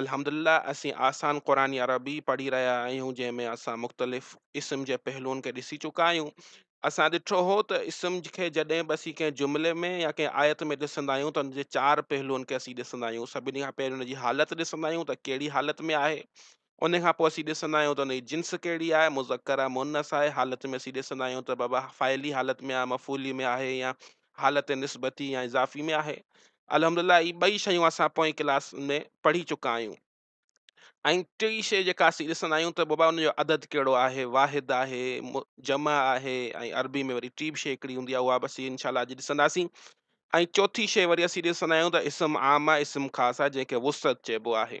الحمدلله اسين آسان قرآن عربي پڙهي رهيا آهيون جنهن ۾ اسان مختلف اسم جي پهلوئن کي ڏسي چڪا آهيون. اسان ڏٺو هو ته اسم کي جڏهن به اسين ڪنهن جملي ۾ يا ڪنهن آيت ۾ ڏسندا آهيون ته ان جي چار پهلوئن کي اسين ڏسندا آهيون سڀني کان پهرين ان جي حالت ڏسندا آهيون ته ڪهڙي حالت ۾ آهي ان کان پوء اسين ڏسندا آهيون ته ان جي جنس ڪهڙي آهي مذڪر آهي مؤنث آهي حالت ۾ اسين ڏسندا آهيون ته بابا فاعلي حالت ۾ آهي مفعولي ۾ آهي يا حالت نسبتي يا اضافي ۾ آهي. الحمد لله هي ٻئي شيون اسان پوئين ڪلاس ۾ پڙهي چڪا آهيون. ۽ ٽي شي جيڪا اسين ڏسندا آهيون ته بابا ان جو عدد ڪهڙو آهي، واحد آهي، جمع آهي ۽ عربي ۾ وري ٽي به شي هڪڙي هوندي آهي اها به اسين انشاء الله اڄ ڏسنداسين. ۽ چوٿي شي وري اسين ڏسندا آهيون ته اسم عام آهي، اسم خاص آهي جنهن کي وسعت چئبو آهي.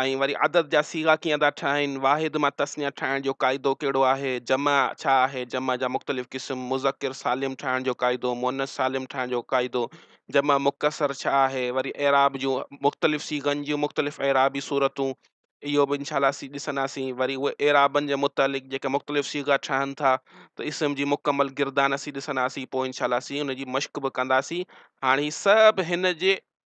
۽ وري عدد جا صيغا ڪيئن ٿا ٺاهين، واحد مان تثنيه ٺاهڻ جو قاعدو ڪهڙو آهي، جمع ڇا آهي، جمع جا مختلف قسم، مذڪر سالم ٺاهڻ جو قاعدو، مؤنث سالم ٺاهڻ جو قاعدو، جمع مڪسر ڇا آهي، وري اعراب جون مختلف صيغن جون مختلف اعرابي صورتون اهو به انشاء الله اسين ڏسنداسين، وري اهي اعرابن جي متعلق جيڪي مختلف صيغا ٺهن ٿا ته اسم جي مڪمل گردان اسين ڏسنداسين پوء انشاء الله اسين ان جي مشق به ڪنداسين، هاڻ هي سڀ هن جي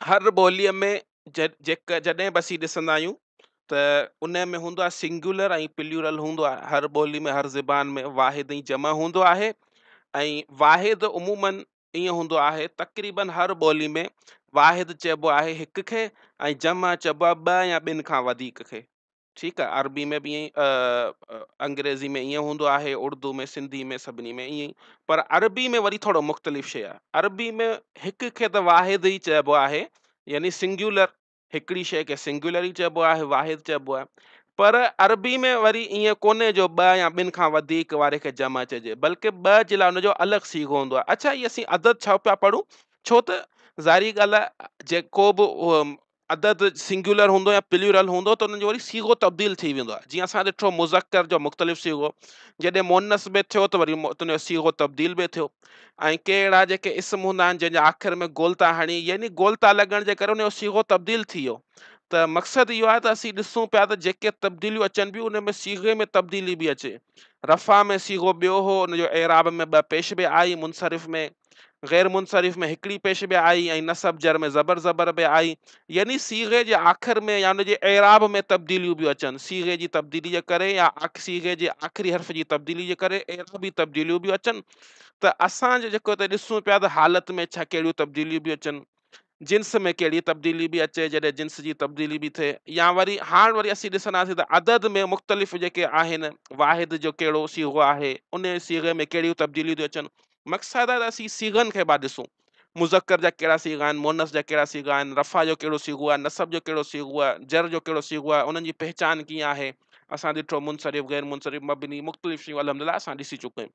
هر ٻوليء ۾ جڏهن به اسين ڏسندا آهيون ته ان ۾ هوندو آهي سنگيولر ۽ پليورل هوندو آهي هر ٻولي ۾ هر زبان ۾ واحد ۽ جمع هوندو آهي ۽ واحد عمومن ائين هوندو آهي تقريبن هر ٻولي ۾ واحد چئبو آهي هڪ کي ۽ جمع چئبو آهي ٻه يا ٻن کان وڌيڪ کي ٺيڪ آ عربي ۾ به ائين انگريزي ۾ ائين هوندو آهي اردو ۾ سنڌي ۾ سڀني ۾ ائين پر عربي ۾ وري ٿورو مختلف شيء آهي عربي ۾ هڪ کي ته واحد ئي چئبو آهي يعني سنگيولر هڪڙي شيء کي سنگيولر ئي چئبو آهي واحد چئبو آهي پر عربي ۾ وري ائين ڪونهي جو ٻ يا ٻن کان وڌيڪ واري کي جمع چئجي بلڪه ٻه جي لاء جو الڳ سيگو هوندو آهي اڇا هي اسين عدد ڇو پيا پڙهون ڇو ته ظاهري ڳالهه آهي جيڪو به عدد سنگيولر هوندو يا پليورل هوندو ته ان جو وري صيغو تبديل ٿي ويندو آهي جيئن اسان ڏٺو مذڪر جو مختلف صيغو جڏهن مؤنث ۾ ٿيو ته وري ان جو صيغو تبديل به ٿيو ۽ ڪي اهڙا جيڪي اسم هوندا آهن جنهن جي آخر ۾ گولتا هڻي يعني گولتا لڳڻ جي ڪري ان جو صيغو تبديل ٿي ويو ته مقصد اهو آهي ته اسين ڏسون پيا ته جيڪي تبديليون اچن پيون ان ۾ صيغي ۾ تبديلي به اچي رفا ۾ صيغو ٻيو هو ان جو اعراب ۾ ٻه پيش به آئي منصرف ۾ غير منصرف ۾ هڪڙي پيش به آئي ۽ نصب جر ۾ زبر زبر به آئي يعني صيغي جي آخر ۾ يا ان جي اعراب ۾ تبديليون به اچن صيغي جي تبديلي جي ڪري يا صيغي جي آخري حرف جي تبديلي جي ڪري اعرابي تبديليون به اچن ته اسان جو جيڪو ته ڏسون پيا ته حالت ۾ ڇا ڪهڙيون تبديليون به اچن جنس ۾ ڪهڙي تبديلي به اچي جڏهن جنس جي تبديلي به ٿئي يا وري هاڻ وري اسين ڏسنداسين ته عدد ۾ مختلف جيڪي آهن واحد جو ڪهڙو صيغو آهي ان صيغي ۾ ڪهڙيون تبديليون ٿيون اچن مقصد آهي ته اسين صيغن کي بعد ڏسون مذڪر جا ڪهڙا صيغا آهن مونس جا ڪهڙا صيغا آهن رفا جو ڪهڙو صيغو آهي نصب جو ڪهڙو صيغو آهي جر جو ڪهڙو صيغو آهي انهن جي پهچان ڪيئن آهي اسان ڏٺو منصرف غير منصرف مبني مختلف شيون الحمد لله اسان ڏسي چڪا آهيون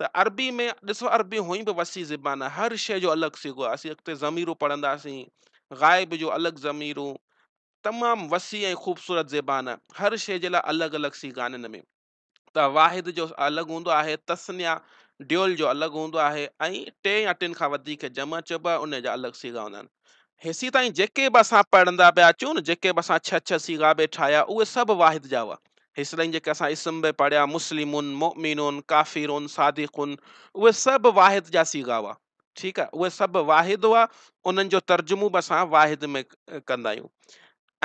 ته عربي ۾ ڏسو عربي هونئن به وسيع زبان آهي هر شيء جو الڳ صيغو آهي اسين اڳتي ضميرون پڙهنداسين غائب جو الڳ ضميرون تمام وسيع ۽ خوبصورت زبان آهي هر شيء جي لاء الڳ الڳ صيغا آهن هن ۾ ته واحد جو الڳ هوندو آهي تسنيا ڊيول جو الڳ هوندو آهي ۽ ٽي يا ٽن کان وڌيڪ جمع چئبو آهي ان جا الڳ صيغا هوندا آهن هيسين تائين جيڪي به اسان پڙهندا پيا اچون نه جيڪي به اسان ڇهه ڇهه صيغا به ٺاهيا اهي سڀ واحد جا هئا هيس تائين جيڪي اسان اسم به پڙهيا مسلمون مؤمنون ڪافرون صادقون اهي سڀ واحد جا صيغا هئا ٺيڪ آهي اهي سڀ واحد هئا انهن جو ترجمو به اسان واحد ۾ ڪندا آهيون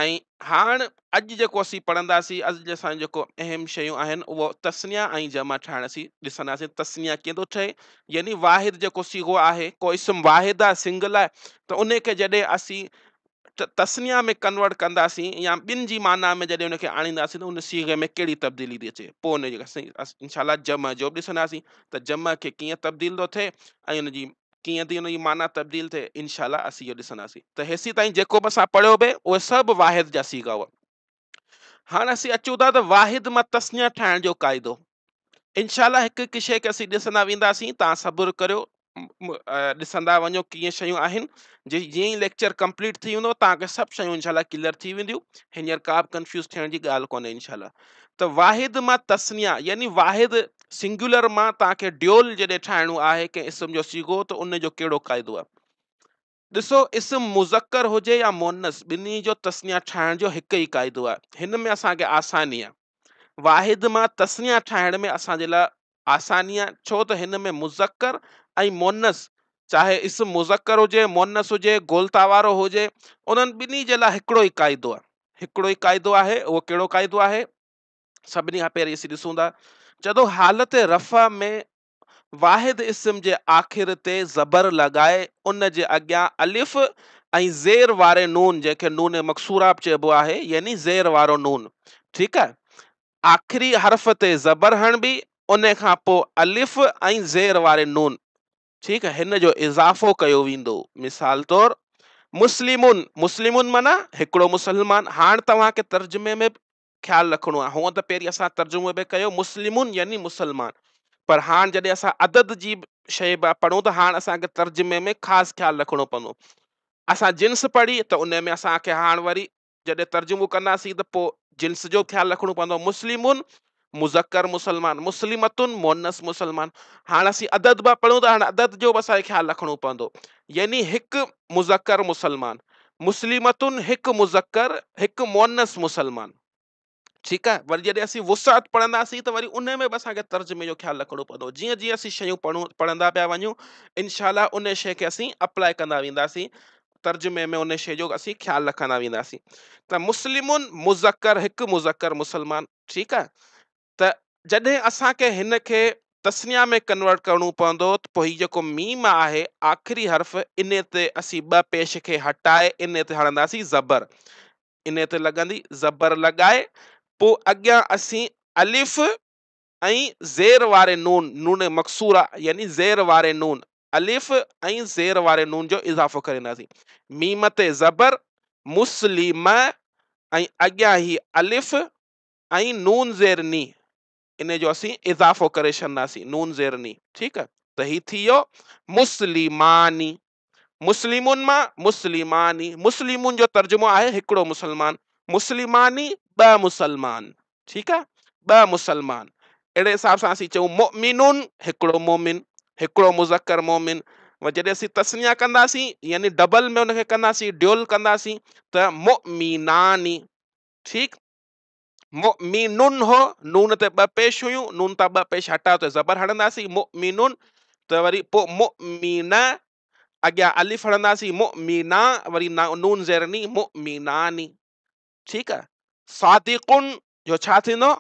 ۽ هاڻ اڄ جيڪو اسين پڙهنداسين، اڄ جي اسان جيڪو اهم شيون آهن اهو تثنيه ۽ جمع ٺاهڻ اسين ڏسنداسين، تثنيه ڪيئن ٿو ٺهي يعني واحد جيڪو صيغو آهي، ڪو اسم واحد آهي سنگل آهي ته ان کي جڏهن اسين تثنيه ۾ ڪنورٽ ڪنداسين يا ٻن جي معنيٰ ۾ جڏهن ان کي آڻينداسين ته ان صيغي ۾ ڪهڙي تبديلي ٿي اچي پوء ان جي انشاء الله جمع جو به ڏسنداسين ته جمع کي ڪيئن تبديل ٿو ٿئي ۽ ان جي ڪيئن ٿي ان جي معنيٰ تبديل ٿئي، ان شاء الله اسين اهو ڏسنداسين ته هيسين تائين جيڪو به اسان پڙهيو به اهي سڀ واحد جا صيغا هئا. هاڻ اسين اچون ٿا ته واحد مان تثنيه ٺاهڻ جو قاعدو. ان شاء الله هڪ هڪ شيء کي اسين ڏسندا وينداسين، توهان صبر ڪريو ڏسندا وڃو ڪيئن شيون آهن، جي جيئن ئي ليڪچر ڪمپليٽ ٿي ويندو توهان کي سڀ شيون ان شاء الله ڪليئر ٿي وينديون، هينئر ڪا به ڪنفيوز ٿيڻ جي ڳالهه ڪونهي ان شاء الله. ته واحد مان تثنيه يعني واحد، Singular، مان توهان کي ڊيول جڏهن ٺاهڻو آهي ڪنهن اسم جو صيغو ته ان جو ڪهڙو قاعدو آهي؟ ڏسو اسم مذڪر هجي يا مؤنث ٻنهي جو تثنيه ٺاهڻ جو هڪ ئي قاعدو آهي. هن ۾ اسان کي آساني آهي. واحد مان تثنيه ٺاهڻ ۾ اسان جي لاء آسانيء ڇو ته هن ۾ مذڪر ۽ مؤنث چاهي اسم مذڪر هجي مؤنث هجي گولتا وارو هجي انهن ٻنهي جي لاء هڪڙو ئي قاعدو آهي هڪڙو ئي قاعدو آهي اهو ڪهڙو قاعدو آهي سڀني کان پهرين اسين ڏسون ٿا جڏو حالت رفع ۾ واحد اسم جي آخر تي زبر لڳائي ان جي اڳيان الف ۽ زير واري نون جنهن کي نون مقصورا به چئبو آهي يعني زير وارو نون ٺيڪ آهي آخري حرف تي زبر هڻبي ان کان پوء الف ۽ زير واري نون ٺيڪ آهي هن جو اضافو ڪيو ويندو مثال طور مسلمون مسلمون معنيٰ هڪڙو مسلمان هاڻ توهان کي ترجمي ۾ خيال رکڻو آهي هونء ته پهرين اسان ترجمو به ڪيو مسلمون يعني مسلمان پر هاڻ جڏهن اسان عدد جي شيء به پڙهون ته هاڻ اسان کي ترجمي ۾ خاص خيال رکڻو پوندو اسان جنس پڙهي ته ان ۾ اسان کي هاڻ وري جڏهن ترجمو ڪنداسين ته پوء جنس جو خيال رکڻو پوندو مسلمون مذڪر مسلمان مسلمتن مونس مسلمان هاڻ اسين عدد به پڙهون ته هاڻ عدد جو به اسانکي خيال رکڻو پوندو يعني هڪ مذڪر مسلمان مسلمتن هڪ مذڪر هڪ مونس مسلمان ٺيڪ آهي وري جڏهن اسين وسعت پڙهنداسين ته وري ان ۾ به اسان کي ترجمي جو خيال رکڻو پوندو جيئن جيئن اسين شيون پڙهون پڙهندا پيا وڃون انشاء الله ان شي کي اسين اپلاء ڪندا وينداسين ترجمي ۾ ان شي جو اسين خيال رکندا وينداسين ته مسلمون مذڪر هڪ مذڪر مسلمان ٺيڪ آهي ته جڏهن اسانکي هن کي تسنيا ۾ ڪنورٽ ڪرڻو پوندو ته پوء هي جيڪو ميم آهي آخري حرف ان تي اسين ٻه پيش کي هٽائي ان تي هڻنداسين زبر انهيء تي لڳندي زبر لڳائي، پوء اڳيان اسين الف ۽ زير واري نون، نون مقصوره، يعني زير واري نون، الف ۽ زير واري نون جو اضافو ڪرينداسين. ميم تي زبر، مسلمه، ۽ اڳيان هي الف ۽ نون زير ني، انهيء جو اسين اضافو ڪري ڇڏنداسين، نون زير ني، ٺيڪ، ته هي ٿي ويو، مسلماني، مسلمون مان مسلماني، مسلمون جو ترجمو آهي هڪڙو مسلمان، مسلماني ٻه مسلمان، ٺيڪ آ ٻه مسلمان اهڙي حساب سان اسين چئون مؤمنون هڪڙو مؤمن، هڪڙو مذڪر مؤمن و جڏهن اسين تسنيا ڪنداسين يعني ڊبل ۾ ان کي ڪنداسين ڊيول ڪنداسين ته مؤمناني ٺيڪ مؤ مي نون هو نون تي ٻه پيش هيون نون تان ٻه پيش هٽايو ته زبر هڻنداسين مؤ مي نون ته وري پو مؤ مي نه اڳيان الف هڻنداسين مؤ مي نا وري نون زير ني مؤ مي ناني ٺيڪ آ صادقن جو ڇا ٿيندو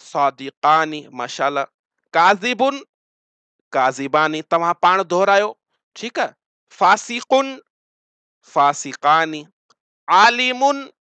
صادقاني ماشاءالله ڪاذبن ڪاذباني توهان پاڻ دهرايو ٺيڪ آ فاسقن فاسقاني عالمن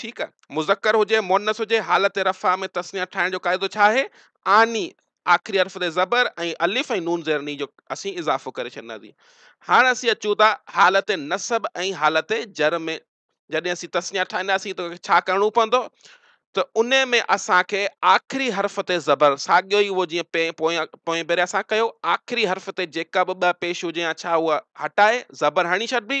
ٺيڪ آ. مذڪر هجي، مؤنث هجي، حالت رفع ۾ تثنيه ٺاهڻ جو قاعدو ڇا آهي؟ آني، آخري حرف تي زبر ۽ الف ۽ نون زير ني جو اسين اضافو ڪري ڇڏنداسين. هاڻ اسين اچون ٿا حالت نصب ۽ حالت جر ۾، جڏهن اسين تثنيه ٺاهينداسين ته ڇا ڪرڻو پوندو؟ ته ان ۾ اسان کي آخري حرف تي زبر ساڳيو ئي اهو جيئن پين پويان پوئين ڀيري اسان ڪيو، آخري حرف تي جيڪا به ٻه پيش هجي يا ڇا اها هٽائي زبر هڻي ڇڏبي،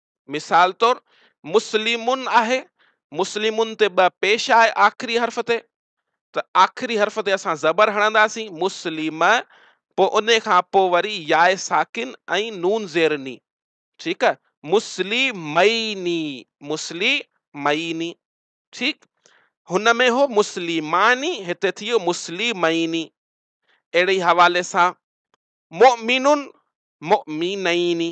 مثال طور، مسلمن آهي، مسلمن تي ٻه پيش آهي آخري حرف تي ته آخري حرف تي اسان زبر هڻنداسين مسلم پوء ان کان پوء وري ياء ساڪن ۽ نون زير ني ٺيڪ آهي مسلميني مسلميني ٺيڪ هن ۾ هو مسلماني هتي ٿي ويو مسلميني اهڙي حوالي سان مؤمنن مؤمنيني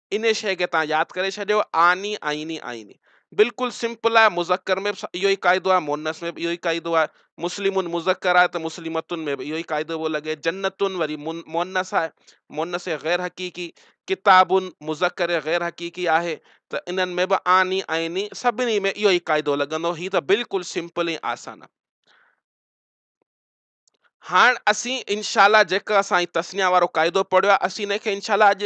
انهي شيء کي توهان ياد ڪري ڇڏيو، آني، آئيني، آئيني. بلڪل سمپل آهي، مذڪر ۾ به اهو ئي قاعدو آهي، مؤنث ۾ به اهو ئي قاعدو آهي. مسلمون مذڪر آهي ته مسلمتن ۾ به اهو ئي قاعدو پيو لڳي. جنتن وري مؤنث آهي، مؤنث غير حقيقي. ڪتابن مذڪر غير حقيقي آهي ته انهن ۾ به آني، آئيني سڀني ۾ اهو ئي قاعدو لڳندو. هي ته بلڪل سمپل ۽ آسان آهي. هاڻ اسين انشاء الله جيڪو اسان هي تثنيه وارو قاعدو پڙهيو آهي اسين ان کي انشاء الله اڄ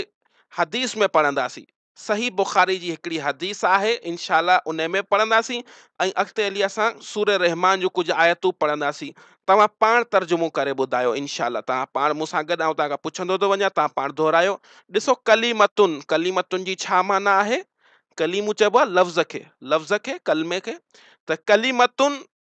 حديث ۾ پڙهنداسين صحيح بخاري جي هڪڙي حديث آهي انشاء الله ان ۾ پڙهنداسين ۽ اڳتي هلي اسان سوره رحمان جون ڪجهه آيتون پڙهنداسين توهان پاڻ ترجمو ڪري ٻڌايو انشاء الله توهان پاڻ مون سان گڏ آئون توهان کان پڇندو ٿو وڃان توهان پاڻ دهرايو ڏسو ڪليمتن ڪليمتن جي ڇا معنيٰ آهي ڪليمو چئبو آهي لفظ کي لفظ کي ڪلمي کي ته ڪليمتن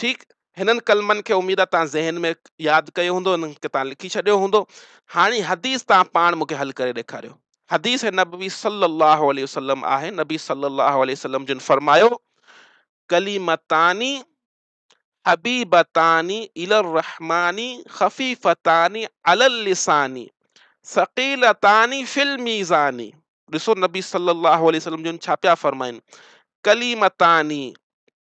ٺيڪ هنن ڪلمن کي اميد آ توهان ذهن ۾ ياد ڪيو هوندو هنن کي توهان لکي ڇڏيو هوندو هاڻي حديث توهان پاڻ مونکي حل ڪري ڏيکاريو حديث نبوي صلي الله عليه وسلم آهي نبي صلي الله عليه وسلم جن فرمايو ڪليمتاني حبيبتاني الى الرحماني خفيفتاني على اللساني ثقيلتاني في الميزاني ڏسو نبي صلي الله عليه وسلم جن ڇا پيا فرمائن ڪليمتاني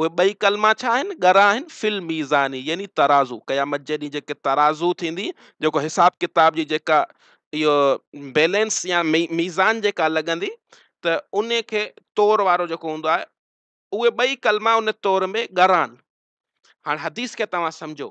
اهي ٻئي ڪلما ڇا آهن؟ ڳرا آهن، في الميزاني يعني ترازو، قيامت جي ڏينهن جيڪي ترازو ٿيندي، جيڪو حساب ڪتاب جي جيڪا اهو بيلنس يا ميزان جيڪا لڳندي ته ان کي تور وارو جيڪو هوندو آهي اهي ٻئي ڪلما ان تور ۾ ڳرا آهن هاڻ حديث کي توهان سمجهو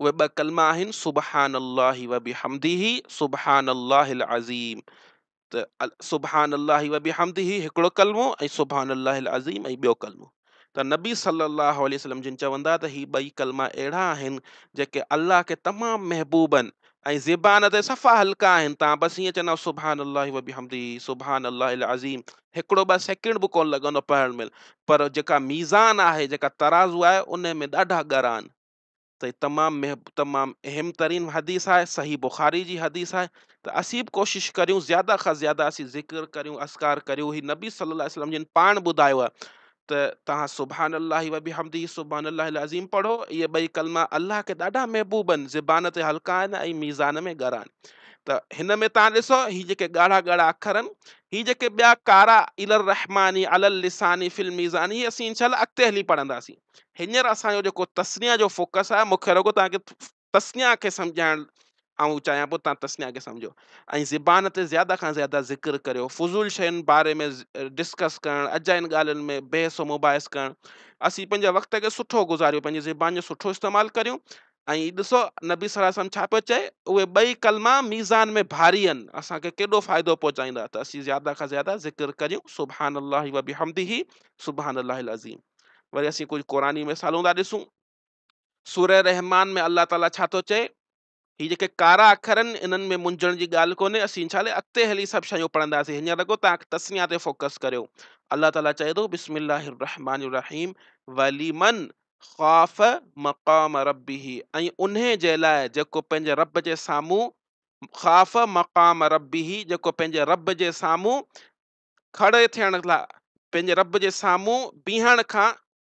اهي ٻه ڪلما آهن سبحان الله وبحمده سبحان الله العظيم ته سبحان الله وبحمده هڪڙو ڪلمو ۽ سبحان الله العظيم ۽ ٻيو ڪلمو ته نبي صلي الله عليه وسلم جن چوندا ته هي ٻئي ڪلما اهڙا آهن جيڪي الله کي تمام محبوبن ۽ زبان تي صفا هلڪا آهن تان بس هيئن چئندا سبحان الله وبحمده سبحان الله العظيم هڪڙو ٻه سيڪنڊ به ڪونه لڳندو پڙهڻ مهل پر جيڪا ميزان آهي جيڪا ترازو آهي ان ۾ ڏاڍا ڳرا آهن ته هي تمام تمام اهم ترين حديث آهي صحيح بخاري جي حديث آهي ته اسين به ڪوشش ڪريون زياده کان زياده اسين ذڪر ڪريون اذڪار ڪريون هي نبي صلي الله عليه وسلم جن پاڻ ٻڌايو آهي ته توهان سبحان الله و بحمده سبحان الله العظيم پڙهو اهي ٻئي ڪلما الله کي ڏاڍا محبوب آهن زبان تي هلڪا آهن ۽ ميزان ۾ ڳرا آهن ته هن ۾ تان ڏسو هي جيڪي ڳاڙها ڳاڙها اکر آهن هي جيڪي ٻيا ڪارا الى الرحماني على اللساني في الميزان هي اسين انشاء الله اڳتي هلي پڙهنداسين هينئر اسان جو جيڪو تسنيا جو فوڪس آهي مونکي رڳو توهان کي تثنيٰ کي سمجهائڻ آئون چاهيان پيو تان تثنيٰ کي سمجهو ۽ زبان تي زياده کان زياده ذڪر ڪريو فضول شين باري ۾ ڊسڪس ڪرڻ اجاين ڳالهين ۾ بحث و مباحث ڪرڻ اسين پنهنجي وقت کي سٺو گذاريون پنهنجي زبان جو سٺو استعمال ڪريون ۽ ڏسو نبي صلي وسلم ڇا پيو چئي اهي ٻئي ڪلما ميزان ۾ ڀاري آهن اسان کي ڪيڏو فائدو پهچائيندا ته اسين زياده کان زياده ذڪر ڪريون سبحان الله وبحمده سبحان الله العظيم وري اسين ڪجهه قرآني مثالون ٿا ڏسون سوره رحمان ۾ الله تعالي ڇا ٿو چئي؟ هي جيڪي ڪارا اکر آهن انهن ۾ منجهڻ جي ڳالهه ڪونهي اسين ان شاء الله اڳتي هلي سڀ شيون پڙهنداسين هينئر رڳو تان تسميا تي فوڪس ڪريو الله تعالي چئي ٿو بسم الله الرحمن الرحيم ولمن خاف مقام ربه ۽ انهي جي لاء جيڪو پنهنجي رب جي سامهون خاف مقام ربه جيڪو پنهنجي رب جي سامهون کڙي ٿيڻ لاء پنهنجي رب جي سامهون بيهڻ کان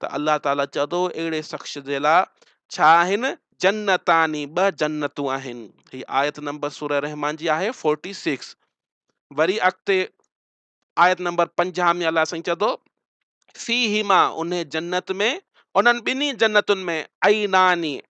ته الله تعالي چئو ٿو اهڙي شخص جي لاء ڇا آهن جنتان ٻه جنتون آهن هي آيت نمبر سوره رحمان جي آهي فورٽي سڪس وري اڳتي آيت نمبر پنجاهه ۾ الله سائين چئي ٿو في هما ان جنت ۾ انهن ٻنهي جنتن ۾ عيناني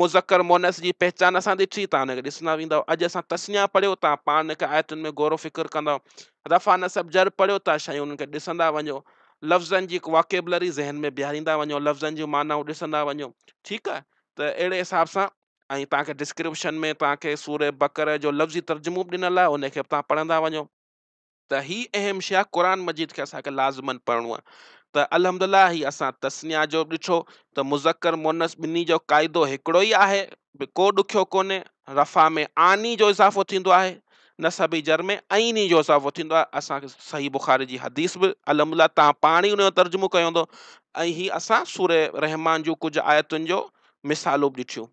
مذڪر مؤنث جي پهچان اسان ڏٺي، تان ان کي ڏسندا ويندؤ. اڄ اسان تثنيه پڙهيو، تان پاڻ ان کي آيتن ۾ غور و فڪر ڪندؤ. رفع نصب جر پڙهيو، تان شيون انهن کي ڏسندا وڃو. لفظن جي واڪيبلري ذهن ۾ بيهاريندا وڃو، لفظن جون معنائون ڏسندا وڃو. ٺيڪ آهي؟ ته اهڙي حساب سان ۽ تان کي ڊسڪرپشن ۾ تان کي سورة بقره جو لفظي ترجمو به ڏنل آهي، ان کي به تان پڙهندا وڃو. ته هي اهم شيء آهي قرآن مجيد کي اسان کي لازمن پڙهڻو آهي ته الحمد الله هي اسان تثنيا جو به ڏٺو ته مذڪر مؤنث ٻنهي جو قاعدو هڪڙو ئي آهي به ڪو ڏکيو ڪونهي رفع ۾ آني جو اضافو ٿيندو آهي نصب جر ۾ عيني جو اضافو ٿيندو آهي اسان کي صحيح بخاري جي حديث به الحمد الله تان پاڻ ئي ان جو ترجمو ڪيو هوندو ۽ هي اسان سورة رحمان جون ڪجهه آيتن جو مثالون به ڏٺيون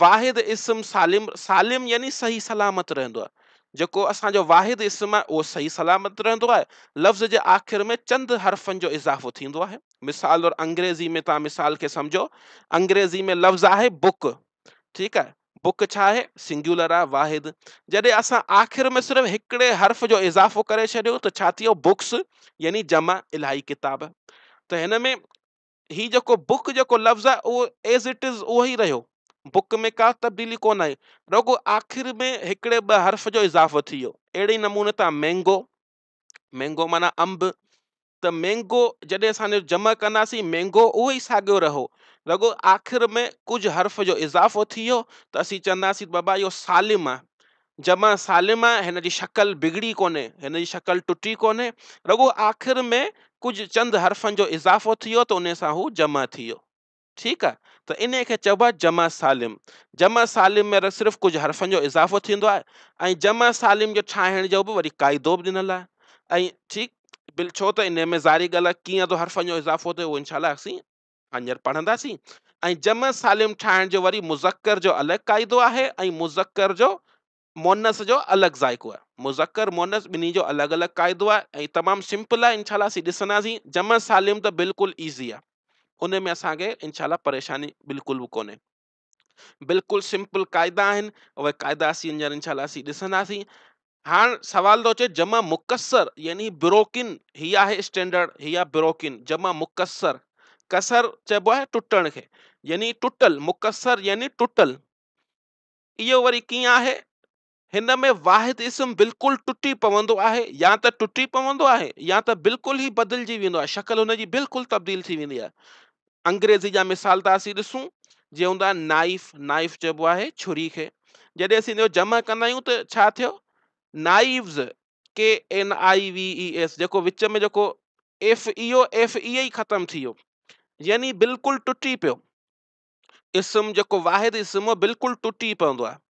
واحد اسم سالم سالم يعني صحيح سلامت رهندو آهي. جيڪو اسان جو واحد اسم آهي اهو صحيح سلامت رهندو آهي. لفظ جي آخر ۾ چند حرفن جو اضافو ٿيندو آهي. مثال طور انگريزي ۾ توهان مثال کي سمجهو انگريزي ۾ لفظ آهي بڪ ٺيڪ آهي بڪ ڇا آهي سنگيولر آهي واحد جڏهن اسان آخر ۾ صرف هڪڙي حرف جو اضافو ڪري ڇڏيو ته ڇا ٿيو بڪس يعني جمع الاهي ڪتاب ته هن ۾ هي جيڪو بڪ جيڪو لفظ آهي اهو ايز اٽ از اهو ئي رهيو بڪ ۾ ڪا تبديلي ڪونه آئي رڳو آخر ۾ هڪڙي ٻه حرف جو اضافو ٿي ويو اهڙي نموني تان مينگو مينگو معنی انب ته مينگو جڏهن اسان جمع ڪنداسين مينگو اهو ئي ساڳيو رهو رڳو آخر ۾ ڪجهه حرف جو اضافو ٿي ويو ته اسين چونداسين بابا اهو سالم آهي جمع سالم آهي هن جي شڪل بگڙي ڪونهي هن جي شڪل ٽٽي ڪونهي رڳو آخر ۾ ڪجهه چند حرفن جو اضافو ٿي ويو ته ان سان هو جمع ٿي ويو ٺيڪ آهي ته انهي کي چئبو آهي جمع سالم جمع سالم ۾ صرف ڪجهه حرفن جو اضافو ٿيندو آهي ۽ جمع سالم جو ٺاهڻ جو به وري قاعدو به ڏنل آهي ۽ ٺيڪ بل ڇو ته انهي ۾ ظاهري ڳالهه ڪيئن ٿو حرفن جو اضافو ٿئي اهو انشاء الله اسين هينئر پڙهنداسين ۽ جمع سالم ٺاهڻ جو وري مذڪر جو الڳ قاعدو آهي ۽ مذڪر جو مونس جو الڳ ذائقو آهي مذڪر مونس ٻنهي جو الڳ الڳ قاعدو آهي ۽ تمام سمپل آهي انشاء الله اسين ڏسنداسين جمع سالم ته بلڪل ايزي آهي ان ۾ اسان کي انشاء الله پريشاني بلڪل به ڪونهي بلڪل سمپل قاعدا آهن اهي قاعدا اسين ڄڻ انشاء الله اسين ڏسنداسين هاڻ سوال ٿو اچي جمع مڪسر يعني بروڪن هي آهي اسٽينڊرڊ هي آهي بروڪن جمع مڪسر ڪسر چئبو آهي ٽٽڻ کي يعني ٽٽل مڪسر يعني ٽٽل اهو وري ڪيئن آهي هن ۾ واحد اسم بلڪل ٽٽي پوندو آهي يا ته ٽٽي پوندو آهي يا ته بلڪل ئي بدلجي ويندو آهي شڪل هن جي بلڪل تبديل ٿي ويندي آهي انگريزي جا مثال ٿا اسين ڏسون جي هوندا نائف نائف چئبو آهي چھري کي جڏهن اسين جو جمع ڪندا آهيون ته ڇا ٿيو knives K N I V E S جيڪو وچ ۾ جيڪو ايف ايو ايف اي ئي ختم ٿي ويو يعني بلڪل ٽٽي پيو اسم جيڪو واحد اسم بلڪل ٽٽي پوندو آهي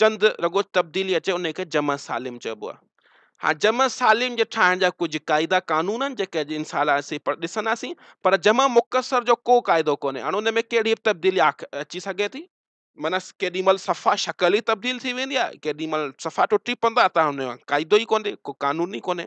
چند رڳو تبديلي اچي انهي کي جمع سالم چئبو آهي. هاڻ جمع سالم جي ٺاهڻ جا ڪجهه قاعدا قانون آهن جيڪي اڄ انشاء الله اسين ڏسنداسين پر جمع مختصر جو ڪو قاعدو ڪونهي هاڻ ان ۾ ڪهڙي به تبديلي اچي سگهي ٿي معنيٰ ڪيڏي مهل صفا شڪل ئي تبديل ٿي ويندي آهي ڪيڏي مهل صفا ٽٽي پوندا ته هن جو قاعدو ئي ڪونهي ڪو قانون ئي ڪونهي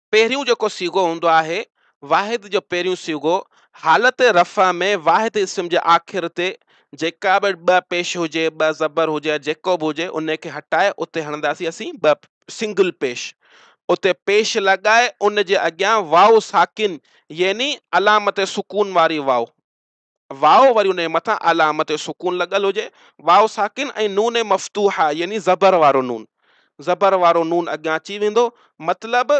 پهريون جيڪو صيغو هوندو آهي، واحد جو پهريون صيغو، حالت رفع ۾ واحد اسم جي آخر تي جيڪا به ٻه پيش هجي، ٻه زبر هجي يا جيڪو به هجي ان کي هٽائي اتي هڻنداسين اسين ٻه سنگل پيش، اتي پيش لڳائي ان جي اڳيان واو ساڪن يعني علامت سڪون واري واو. واو وري ان جي مٿان علامت سڪون لڳل هجي، واو ساڪن ۽ نون مفتوحه يعني زبر وارو نون، زبر وارو نون اڳيان اچي ويندو، مطلب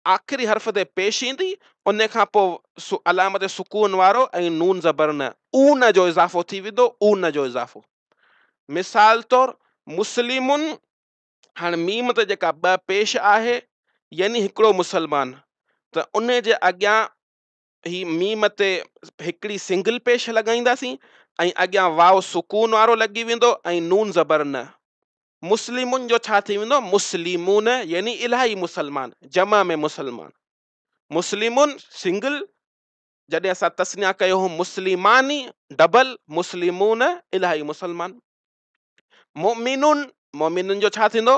آخري حرف تي پيش ايندي، ان کان پوء علامت سڪون وارو ۽ نون زبر نه، اون، جو اضافو ٿي ويندو، اون جو اضافو. مثال طور، مسلمن، هاڻ ميم تي جيڪا ٻه پيش آهي، يعني هڪڙو مسلمان، ته ان جي اڳيان هي ميم تي هڪڙي سنگل پيش لڳائينداسين ۽ اڳيان واو سڪون وارو لڳي ويندو ۽ نون زبر نه. مسلمن جو ڇا ٿي ويندو مسلمون يعني الاهي مسلمان جمع ۾ مسلمان. مسلمون سنگل جڏهن اسان تسنيا ڪيو هو مسلماني ڊبل مسلمون الاهي مسلمان. مؤمنون مؤمنن جو ڇا ٿيندو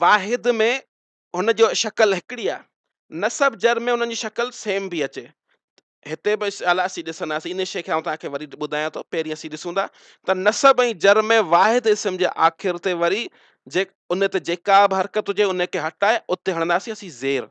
واحد ۾ هن جو شڪل هڪڙي آ نسب جر ۾ انهن جي شڪل سيم به اچي هتي به الا اسين ڏسنداسين ان شي کي آئون توهان کي وري ٻڌايان ٿو پهرين اسين ڏسون ٿا ته نسب ۽ جر ۾ واحد اسم جي آخر تي وري جي ان تي جيڪا به حرڪت هجي ان کي هٽائي اتي هڻنداسين اسين زير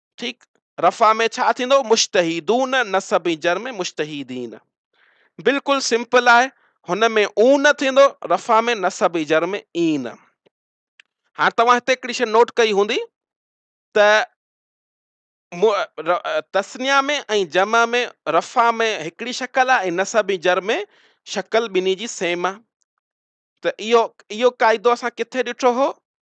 ٺيڪ رفع ۾ ڇا ٿيندو مشتهيدون نصب ۽ جر ۾ مشتهيدين بلڪل سمپل آهي هن ۾ اون ٿيندو رفع ۾ نصب ۽ جر ۾ اين هاڻ توهان هتي هڪڙي شي نوٽ ڪئي هوندي ته تسنيا ۾ ۽ جمع ۾ رفع ۾ هڪڙي شڪل آهي ۽ نصب ۽ جر ۾ شڪل ٻنهي جي سيم آهي ته اهو اهو قاعدو اسان ڪٿي ڏٺو هو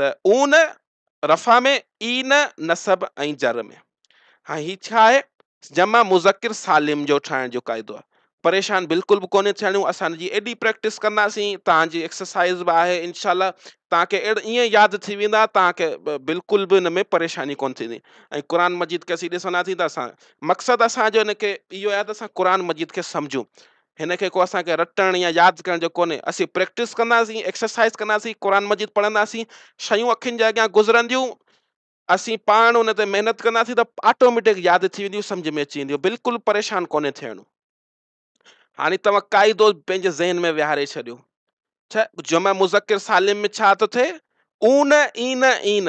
ته اون رفع ۾ اين نصب ۽ جر ۾ هاڻي هي ڇا آهي جمع مذڪر سالم جو ٺاهڻ جو قاعدو آهي پريشان بلڪل به ڪونهي ٿيڻو اسان ان جي ايڏي پريڪٽس ڪنداسين توهان جي ايڪسرسائز به آهي انشاء الله توهان کي اهڙا ائين ياد ٿي ويندا توهان کي بلڪل به ان ۾ پريشاني ڪونهي ٿيندي ۽ قرآن مجيد کي اسين ڏسندا ٿي ته اسان مقصد اسانجو ان کي اهو آهي ته اسان قرآن مجيد کي سمجهون هن کي ڪو اسان کي رٽڻ يا ياد ڪرڻ جو ڪونهي. اسين پريڪٽس ڪنداسين، ايڪسرسائيز ڪنداسين، قرآن مجيد پڙهنداسين، شيون اکين جي اڳيان گذرنديون، اسين پاڻ ان تي محنت ڪنداسين ته آٽوميٽڪ ياد ٿي وينديون، سمجهه ۾ اچي وينديون، بلڪل پريشان ڪونهي ٿيڻو. هاڻي توهان قاعدو پنهنجي ذهن ۾ ويهاري ڇڏيو ته جمع مذڪر سالم ۾ ڇا ٿو ٿئي؟ اون، اين، اين.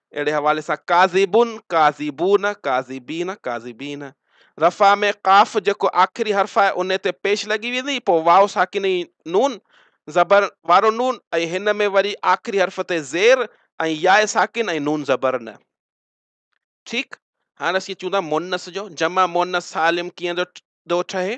اهڙي حوالي سان ڪاذبن، ڪاذبون، ڪاذبين، ڪاذبين. رفع ۾ قاف جيڪو آخري حرف آهي انهي تي پيش لڳي ويندي پوء واو ساڪنه ۽ نون زبر وارو نون ۽ هن ۾ وري آخري حرف تي زير ۽ ياء ساڪن ۽ نون زبر نه. ٺيڪ. هاڻ اسين چون ٿا مؤنث جو جمع مؤنث سالم ڪيئن ٿو ٺهي؟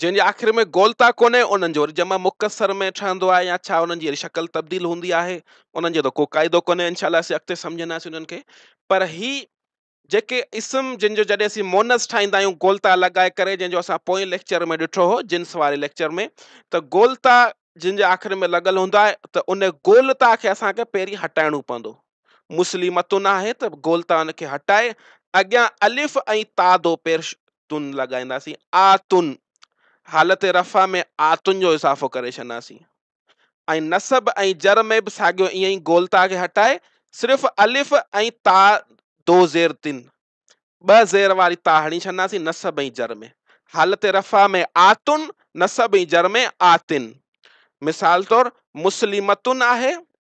جنهن جي آخر ۾ گولتا ڪونهي انهن جو وري جمع مختصر ۾ ٺهندو آهي يا ڇا انهن جي وري شڪل تبديل هوندي آهي انهن جو ته ڪو قاعدو ڪونهي انشاء الله اسين اڳتي سمجهنداسين انهن کي پر هي جيڪي اسم جن جو جڏهن اسين مونس ٺاهيندا آهيون گولتا لڳائي ڪري جنهن جو اسان پوئين ليڪچر ۾ ڏٺو هو جنس واري ليڪچر ۾ ته گولتا جن جي آخر ۾ لڳل هوندو آهي ته ان گولتا کي اسانکي پهرين هٽائڻو پوندو مسلمتون آهي ته گولتا ان کي هٽائي اڳيان الف ۽ تا دو پير تون لڳائينداسين آ تون حالت رفع ۾ آ تون جو اضافو ڪري ڇڏنداسين ۽ نصب ۽ جر ۾ به ساڳيو ائين ئي گولتا کي هٽائي صرف الف ۽ تا دو زير تن ٻه زير واري تا هڻي ڇڏنداسين نصب ۽ جر ۾ حالت رفع ۾ آتن نصب ۽ جر ۾ آتن مثال طور مسلمتن آهي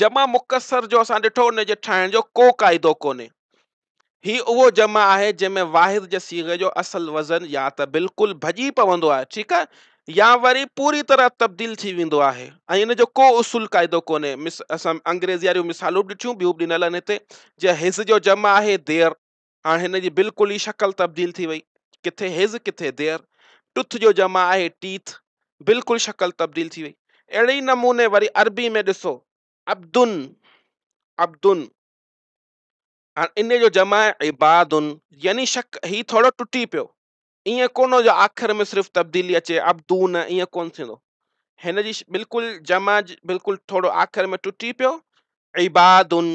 جمع مڪسر جو اسان ڏٺو ان جي ٺاهڻ جو ڪو قاعدو ڪونهي هي اهو جمع آهي جنهن ۾ واحد جي صيغي جو اصل وزن يا ته بلڪل ڀڄي پوندو آهي ٺيڪ آهي يا وري پوري طرح تبديل ٿي ويندو آهي ۽ ان جو ڪو اصول قاعدو ڪونهي مس اسان انگريزي واريون مثالون ڏٺيون ٻيون به ڏنل آهن هتي جنهن حز جو جمع آهي دير هاڻ هن جي بلڪل ئي شڪل تبديل ٿي وئي. ڪٿي هز ڪٿي دير. ٽٿ جو جمع آهي ٽيٿ. بلڪل شڪل تبديل ٿي وئي. اهڙي ئي نموني وري عربي ۾ ڏسو عبدن عبدن هاڻ ان جو جمع آهي عبادن يعني شڪ هي ٿورو ٽٽي پيو ائين ڪونه جو آخر ۾ صرف تبديلي اچي عبدون ائين ڪونه ٿيندو هن جي بلڪل جمع بلڪل ٿورو آخر ۾ ٽٽي پيو عبادن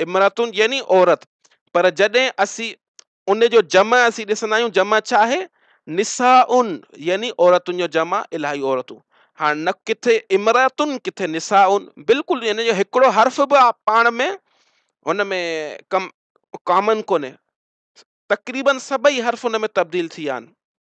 امراتن يعني عورت پر جڏهن اسين ان جو جمع اسين ڏسندا آهيون جمع ڇا آهي نسائن يعني عورتن جو جمع الاهي عورتون هاڻ نه ڪٿي امراتن ڪٿي نسائن بلڪل ان جو هڪڙو حرف به پاڻ ۾ هن ۾ ڪم ڪامن ڪونهي تقريبن سڀئي حرف ان ۾ تبديل ٿي ويا آهن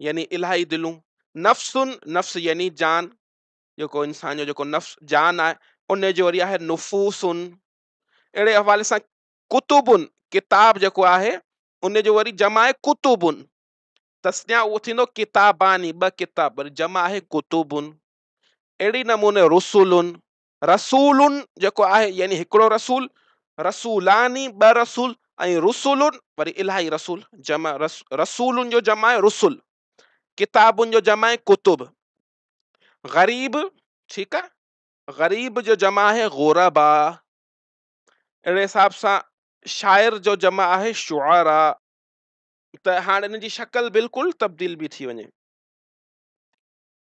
يعني الاهي دلون، نفس، نفس يعني جان، جيڪو انسان جو جيڪو نفس جان آهي ان جو وري آهي نفوس اهڙي حوالي سان ڪتب ڪتاب جيڪو آهي ان جو وري جمع آهي ڪتب تسنيا اهو ٿيندو ڪتاباني ٻه ڪتاب وري جمع آهي ڪتب اهڙي نموني رسول رسول جيڪو آهي يعني هڪڙو رسول، رسولان ٻه رسول ۽ رسل وري الاهي رسول جمع رسول جو جمع آهي رسل، ڪتاب جو جمع آهي ڪتب، غريب ٺيڪ آ غريب جو جمع آهي غرباء اهڙي حساب سان شاعر جو جمع آهي شعراء ته هاڻ ان جي شڪل بلڪل تبديل بي ٿي وڃي.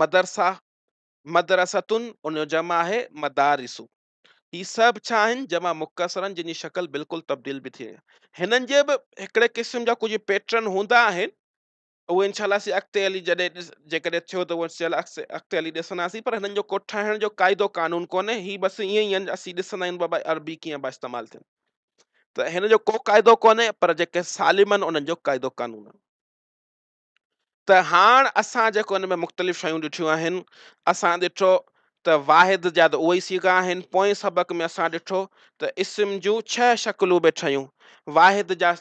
مدرسا، مدرستن، ان جو جمع آهي مدارس. هي سڀ ڇا آهن؟ جمع مڪسر آهن جن جي شڪل بلڪل تبديل به ٿي وئي آهي. هنن جي به هڪڙي قسم جا ڪجهه پيٽرن هوندا آهن اهو انشاء الله اسين اڳتي هلي جڏهن جيڪڏهن ٿيو ته انشاء الله اڳتي هلي ڏسنداسين پر هنن جو ڪو ٺاهڻ جو قاعدو قانون ڪونهي هي بس ائين ئي آهن اسين ڏسندا آهيون بابا عربي ڪيئن پيا استعمال ٿين ته هن جو ڪو قاعدو ڪونهي پر جيڪي سالم آهن انهن جو قاعدو قانون آهن ته هاڻ اسان جيڪو ان ۾ مختلف شيون ڏٺيون آهن، اسان ڏٺو ته واحد جا ته اهي ئي صيغا آهن، پوئين سبق ۾ اسان ڏٺو ته اسم جون ڇهه شڪلون به ٺهيون، واحد جا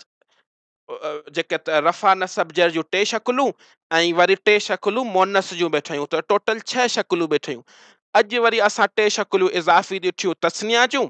جيڪي رفع نصب جر جون ٽي شڪلون ۽ وري ٽي شڪلون مؤنث جون به ٺهيون ته ٽوٽل ڇهه شڪلون به ٺهيون. اڄ وري اسان ٽي شڪلون اضافي ڏٺيون تثنيه جون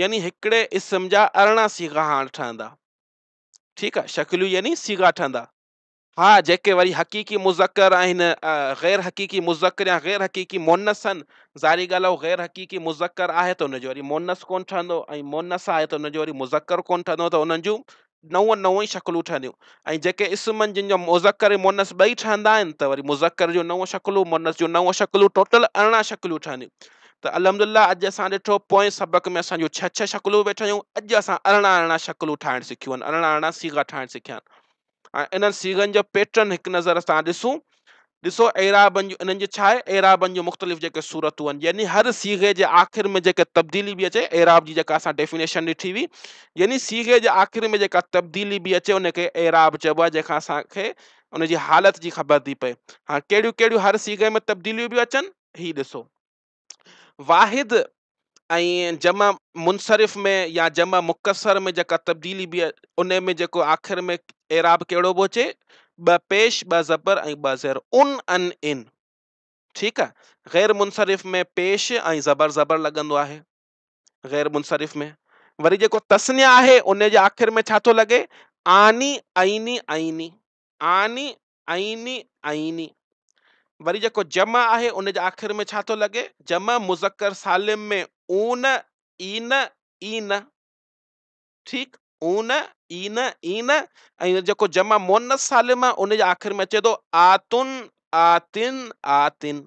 يعني هڪڙي اسم جا ارڙهن صيغا هاڻ ٺهندا. ٺيڪ آ شڪليون يعني صيغا ٺهندا. ها جيڪي وري حقيقي مذڪر آهن غير حقيقي مذڪر يا غير حقيقي مؤنث آهن ظاهري ڳالهه هو غير حقيقي مذڪر آهي ته ان جو وري مؤنث ڪونه ٺهندو ۽ مؤنث آهي ته ان جو وري مذڪر ڪونه ٺهندو ته انهن جون نون نون ئي شڪلون ٺهنديون ۽ جيڪي اسمن جن جا مذڪر ۽ مؤنث ٻئي ٺهندا آهن ته وري مذڪر جون نون شڪلون مؤنث جون نون شڪلون ٽوٽل ارڙهن شڪلون ٺهنديون ته الحمدلله اڄ اسان ڏٺو پوئين سبق ۾ اسان جون ڇهه ڇهه شڪلون به ٺهيون اڄ اسان ارڙهن ارڙهن شڪلون ٺاهڻ سکيون آهن ارڙهن ارڙهن سيغا ٺاهڻ سکيا آهن ۽ انهن سيغن جو پيٽرن هڪ نظر اسان ڏسون ڏسو اعرابن جو انهن جي ڇا آهي اعرابن جون مختلف جيڪي صورتون آهن يعني هر صيغي جي آخر ۾ جيڪي تبديلي به اچي اعراب جي جيڪا اسان ڊيفينيشن ڏٺي هئي يعني صيغي جي آخر ۾ جيڪا تبديلي به اچي ان کي اعراب چئبو آهي جنهن کان اسان کي ان جي حالت جي خبر ٿي پئي هاڻ ڪهڙيون ڪهڙيون هر صيغي ۾ تبديليون به اچن هي ڏسو واحد ۽ جمع منصرف ۾ يا جمع مڪسر ۾ جيڪا تبديلي بي ان ۾ جيڪو آخر ۾ اعراب ڪهڙو به اچي ٻه پيش ٻه زبر ۽ ٻه زير ان ان ان ٺيڪ آ غير منصرف ۾ پيش ۽ زبر زبر لڳندو آهي غير منصرف ۾ وري جيڪو تسنيا آهي ان جي آخر ۾ ڇا ٿو لڳي آني عيني عيني آني عيني، عيني. وري جيڪو جمع آهي ان جي آخر ۾ ڇا ٿو لڳي؟ جمع مذڪر سالم ۾ اون، عين، عين. ٺيڪ، اون، عين، عين ۽ جيڪو جمع مؤنث سالم آهي ان جي آخر ۾ اچي ٿو آتن، آتن، آتن.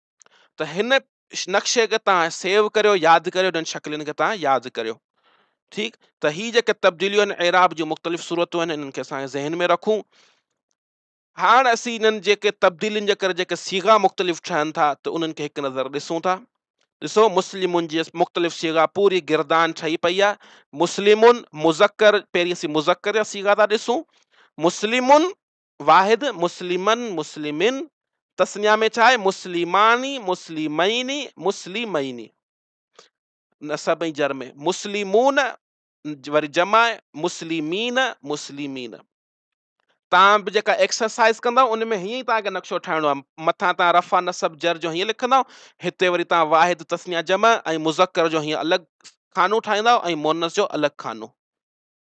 ته هن نقشي کي توهان سيو ڪريو ياد ڪريو انهن شڪلين کي توهان ياد ڪريو ٺيڪ ته هي جيڪي تبديليون آهن اعراب جون مختلف صورتون آهن انهن کي اسان ذهن ۾ رکون هاڻ اسين انهن جيڪي تبديلين جي ڪري جيڪي سيغا مختلف ٺهن ٿا ته انهن کي هڪ نظر ڏسون ٿا ڏسو مسلمن جي مختلف سيغا پوري گردان ٺهي پئي آهي مسلمن مذڪر پهرين اسين مذڪر جا سيغا ٿا ڏسون مسلمن واحد مسلمن مسلمين تثنيه ۾ ڇا آهي مسلماني مسلميني مسلميني نصب ۽ جر ۾ مسلمون وري جمع مسلمين مسلمين تان به جيڪا ايڪسرسائز ڪندو ان ۾ هيئن تان کي نقشو ٺاهڻو آهي مٿان تان رفع نصب جر جو هيئن لکندو هتي وري تان واحد تثنيه جمع ۽ مذڪر جو هيئن الڳ خانو ٺاهيندو ۽ مونس جو الڳ خانو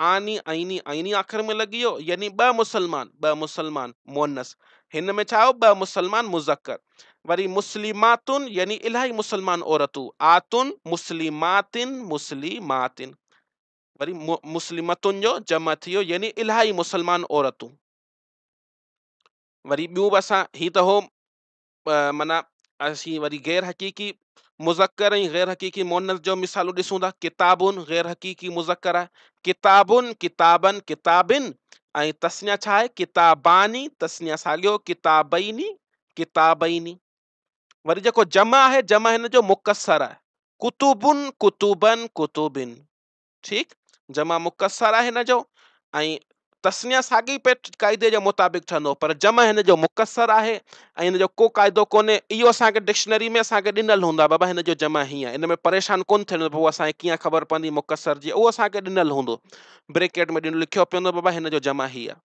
آني، عيني، عيني آخر ۾ لڳي ويو، يعني ٻه مسلمان، ٻه مسلمان، مؤنث، هن ۾ ڇا آيو ٻه مسلمان، مذڪر، وري مسلماتن، يعني الاهي مسلمان عورتون، آتن، مسلماتن، مسلماتن، وري مسلمتن جو جمع ٿي ويو، يعني الاهي مسلمان عورتون. وري ٻيون به اسان هي ته هو معنيٰ اسين وري غير حقيقي مذڪر ۽ غير حقيقي مؤنث جو مثالون ڏسون ٿا ڪتابون غير حقيقي مذڪر آهي ڪتابون ڪتابن ڪتابن ۽ تسنيا ڇا آهي ڪتاباني تسنيا ساڳيو ڪتابيني ڪتابيني وري جيڪو جمع آهي جمع هن جو مڪسر آهي ڪتبن ڪتبن ڪتبن ٺيڪ، جمع مڪسر آهي هن جو ۽ تثنيه ساڳي پيٽ قاعدي جي مطابق ٺهندو پر جمع هن جو مڪسر آهي ۽ هن جو ڪو قاعدو ڪونهي اهو اسان کي ڊڪشنري ۾ اسان کي ڏنل هوندو آهي بابا هن جو جمع هيئن آهي ان ۾ پريشان ڪونه ٿيڻو پوء اسان کي ڪيئن خبر پوندي مڪسر جي اهو اسان کي ڏنل هوندو بريڪيٽ ۾ ڏنل لکيو پيو هوندو بابا هن جو جمع هيئن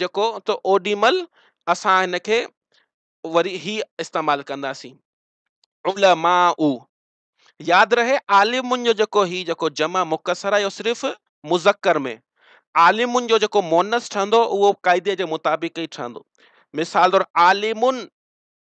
جيڪو ته اوڏي مھل اسان ھن کي وري ھي استعمال ڪنداسين علماء ياد رھي عالمن جو جيڪو ھي جيڪو جمع مختصر آھي اھو صرف مذڪر ۾ عالمن جو جيڪو مونس ٺھندو اھو قاعدي جي مطابق ئي ٺھندو مثال طور عالمن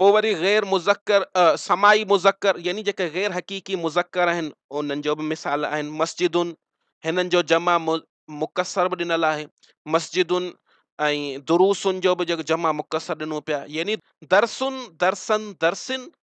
پوء وري غير مذڪر سماعي مذڪر يعني جيڪي غير حقيقي مذڪر آهن انهن جو به مثال آهن مسجدن هنن جو جمع مقصر به ڏنل آهي مسجدن ۽ دروسن جو به جيڪو جمع مقصر ڏنو پيا يعني درسن درسن درسن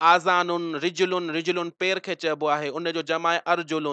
آذان رجل رجل پير کي چئبو آهي ان جو جمع آهي ارجل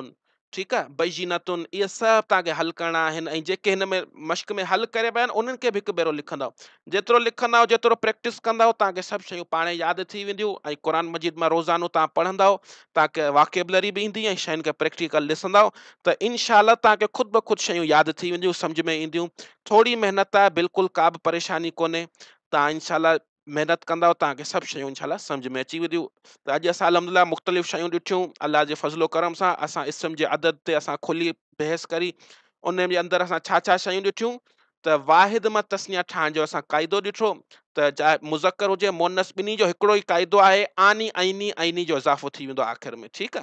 ٺيڪ آهي بينت اهي سڀ توهان کي حل ڪرڻا آهن ۽ جيڪي هن ۾ مشق ۾ حل ڪري ويا آهن انهن کي به هڪ ڀيرو لکندو جيترو لکندو جيترو پريڪٽس ڪندو توهان کي سڀ شيون پاڻ ياد ٿي وينديون ۽ قرآن مجيد مان روزانو توهان پڙهندو توهان کي واڪيبلري به ايندي ۽ شين کي پريڪٽيڪل ڏسندو ته انشاء الله توهان کي خود بخود شيون ياد ٿي وينديون سمجھ ۾ اينديون ٿوري محنت آهي بلڪل ڪا به پريشاني ڪونهي توهان انشاء الله محنت ڪندؤ ته تهانکي سڀ شيون انشاء الله سمجهه ۾ اچي وينديون ته اڄ اسان الحمد لله مختلف شيون ڏٺيون الله جي فضل و ڪرم سان اسان اسم جي عدد تي اسان کلي بحث ڪري ان جي اندر اسان ڇا ڇا شيون ڏٺيون ته واحد مان تسنيا ٺاهڻ جو اسان قاعدو ڏٺو ته چاهي مذڪر هجي مونس ٻنهي جو هڪڙو ئي قاعدو آهي آني عيني عيني جو اضافو ٿي ويندو آخر ۾ ٺيڪ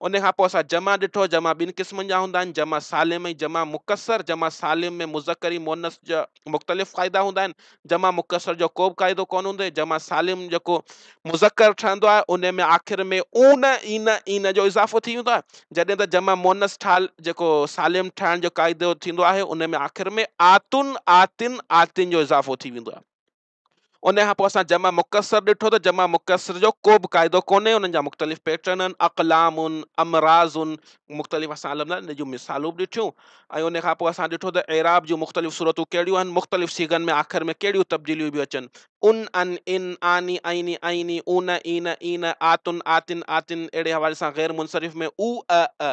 ان کان پوء اسان جمع ڏٺو، جمع ٻن قسمن جا هوندا آهن، جمع سالم ۽ جمع مڪسر، جمع سالم ۾ مذڪر ۽ مؤنث جا مختلف قاعدا هوندا آهن، جمع مڪسر جو ڪوبه قاعدو ڪونه هوندو، جمع سالم جيڪو مذڪر ٺهندو آهي ان ۾ آخر ۾ اون، اين، اين جو اضافو ٿي ويندو آهي، جڏهن ته جمع مؤنث ٺال جيڪو سالم ٺهڻ جو قاعدو ٿيندو آهي ان ۾ آخر ۾ آتن، آتين، آتين جو اضافو ٿي ويندو آهي. ان کان پوء اسان جمع مڪسر ڏٺو ته جمع مڪسر جو ڪو به قاعدو ڪونهي انهن جا مختلف پيٽرن آهن اقلام آهن امراض آهن مختلف اسان علم ان جون مثالون به ڏٺيون ۽ ان کان پوء اسان ڏٺو ته اعراب جون مختلف صورتون ڪهڙيون آهن مختلف سيغن ۾ آخر ۾ ڪهڙيون تبديليون به اچن ان ان ان آني آئيني آئيني اون اين اين آتن آتن آتن اهڙي حوالي سان غير منصرف ۾ او ا ا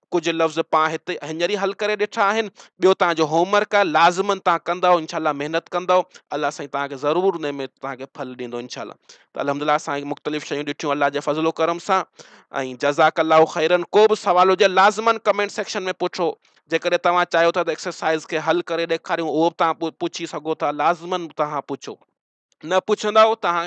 ڪجهه لفظ پان هت هينئر ئي حل ڪري ڏٺا آهن ٻيو تان جو هوم ورڪ آهي لازمن تان ڪندو انشاء الله محنت ڪندو الله سائين تان کي ضرور ان ۾ تان کي ڦل ڏيندو انشاء الله ته الحمدلله اسان مختلف شيون ڏٺيون الله جي فضل و کرم سان ۽ جزاڪ الله خيرن کو به سوال هجي لازمن ڪمينٽ سيڪشن ۾ پڇو جيڪڏهن توهان چاهيو ٿا ته ايڪسرسائز کي حل ڪري ڏيکاريون اهو به تان پڇي سگهو ٿا لازمن تان پڇو نه پڇندؤ ته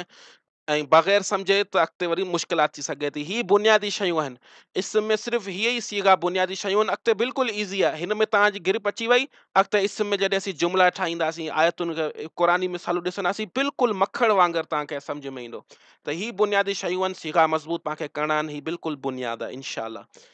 ۽ بغير سمجهي ته اڳتي وري مشڪلات ٿي سگهي ٿي هي بنيادي شيون آهن اسم ۾ صرف هي ئي صيغا بنيادي شيون آهن اڳتي بلڪل ايزي آهي هن ۾ توهان جي گرپ اچي وئي اڳتي اسم ۾ جڏهن اسين جملا ٺاهينداسين آيتن کي قرآني مثالون ڏسنداسين بلڪل مکڙ وانگر توهان کي سمجھ ۾ ايندو ته هي بنيادي شيون آهن صيغا مضبوط توهان کي ڪرڻا آهن هي بلڪل بنياد آهي انشاء الله